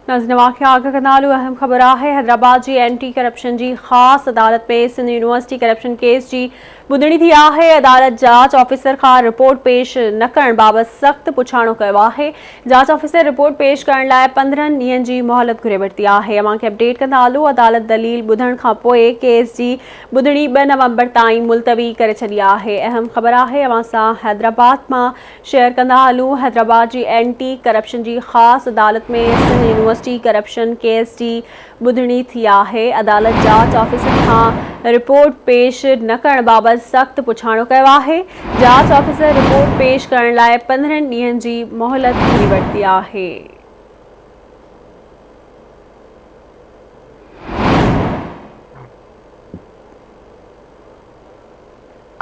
نازنين واقعا اڳ کان نالو اهم خبر آهي حيدرآباد جي اينٽي ڪرپشن جي خاص عدالت ۾ سنڌ يونيورسٽي ڪرپشن ڪيس جي ٻڌڻي ٿي آهي عدالت جاچ آفيسر کان رپورٽ پيش نه ڪرڻ بابت سخت پڇاڻو ڪيو آهي جاچ آفيسر رپورٽ پيش ڪرڻ لاء پندرهن ڏينهن جي مهلت گهري ورتي آهي اوهان کي اپڊيٽ ڪندالو عدالت دليل ٻڌڻ کان پوء ڪيس جي ٻڌڻي ٻه نومبر تائين ملتوي ڪري ڇڏي آهي اهم خبر آهي اوهان سان حيدرآباد مان شيئر ڪندا هلون حيدرآباد جي اينٽي ڪرپشن جي خاص عدالت ۾ سنڌ يونيورسٽي ڪرپشن ڪيس جي ٻڌڻي ٿي آهي عدالت جاچ آفيسر کان رپورٽ پيش نه ڪرڻ بابت سخت پڇاڻو ڪيو آهي جاچ آفيسر رپورٽ پيش ڪرڻ لاء پندرهن ڏينهن جي مهلت گهري ورتي آهي.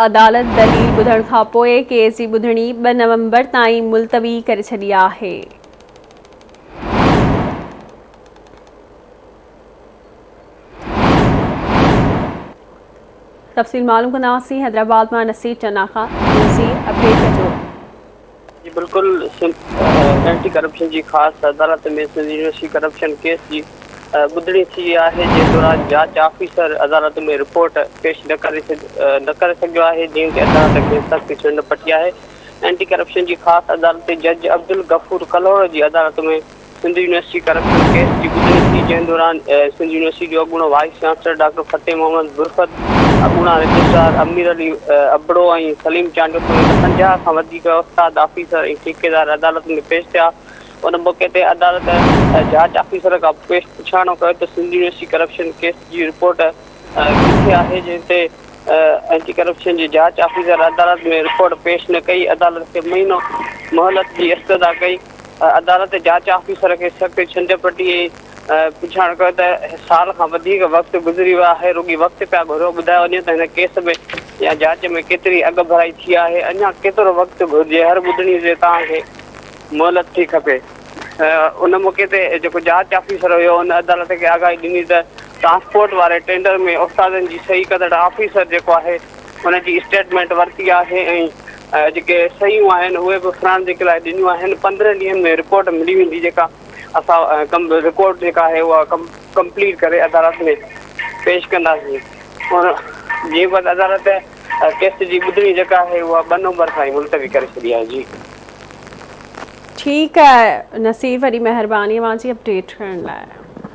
عدالت دليل ٻڌڻ کانپوء ڪيس جي ٻڌڻي ٻه نومبر تائين ملتوي ڪري ڇڏي آهي. تفصيل معلوم ڪنداسين حيدرآباد مان نصير چنا کان نصير اپڊيٽ ڪجو. جي بلڪل سنڌ اينٽي ڪرپشن جي خاص عدالت ۾ سنڌ يونيورسٽي ڪرپشن ڪيس جي ٻڌڻي ٿي آهي جنهن دوران جاچ آفيسر عدالت ۾ رپورٽ پيش نه ڪري نه ڪري سگهيو آهي جنهن تي عدالت کيس سخت چنڊ پٽي آهي اينٽي ڪرپشن جي خاص عدالتي جج عبدالغفور ڪلهوڙو جي عدالت ۾ سنڌ يونيورسٽي ڪرپشن ڪيس جي ٻڌڻي ٿي جنهن دوران سنڌ يونيورسٽي جو اڳوڻو vice chancellor doctor Fateh Muhammad Barkat, اڳوڻا رجسٽرار امير علي ابڙو ۽ سليم چانڊيو سميت پنجاهه کان وڌيڪ استاد، آفيسر ۽ ٺيڪيدار عدالت ۾ پيش ٿيا. ان موقعي تي عدالت جاچ آفيسر کان پيش پڇاڻو ڪيو ته سنڌ يونيورسٽي ڪرپشن ڪيس جي رپورٽ ڪٿي آهي جنهن تي اينٽي ڪرپشن جي جاچ آفيسر عدالت ۾ رپورٽ پيش نه ڪئي عدالت کي مهينو مهلت جي استدعا ڪئي. عدالت جاچ آفيسر کي سخت ڇنڊ پٽي ۽ پڇاڻ ڪيو ته سال کان وڌيڪ وقت گذري ويو آهي، رڳي وقت پيا گهرو، ٻڌايو وڃي ته هن ڪيس ۾ يا جاچ ۾ ڪيتري اڳڀرائي ٿي آهي، اڃا ڪيترو وقت گهرجي، هر ٻڌڻي تي توهان کي مهلت ٿي کپي. ان موقعي تي جيڪو جاچ آفيسر هيو ان عدالت کي آگاهي ڏني ته ٽرانسپورٽ واري ٽينڊر ۾ استادن جي صحيح ڪندڙ آفيسر جيڪو آهي، ان جي اسٽيٽمينٽ ورتي آهي ۽ جيڪي صحيحون آهن اهي به فرانزڪ لاء ڏنيون آهن پندرهن ڏينهن ۾ رپورٽ ملي ويندي جيڪا اسان رپورٽ جيڪا آهي اها ڪمپليٽ ڪري عدالت ۾ پيش ڪنداسين ان جي بعد عدالت ڪيس جي ٻڌڻي جيڪا آهي اها ٻه نومبر کان ئي ملتوي ڪري ڇڏي آهي جي ٺيڪ آهي نصير وڏي مهرباني اوهان جي اپڊيٽ ڪرڻ لاء.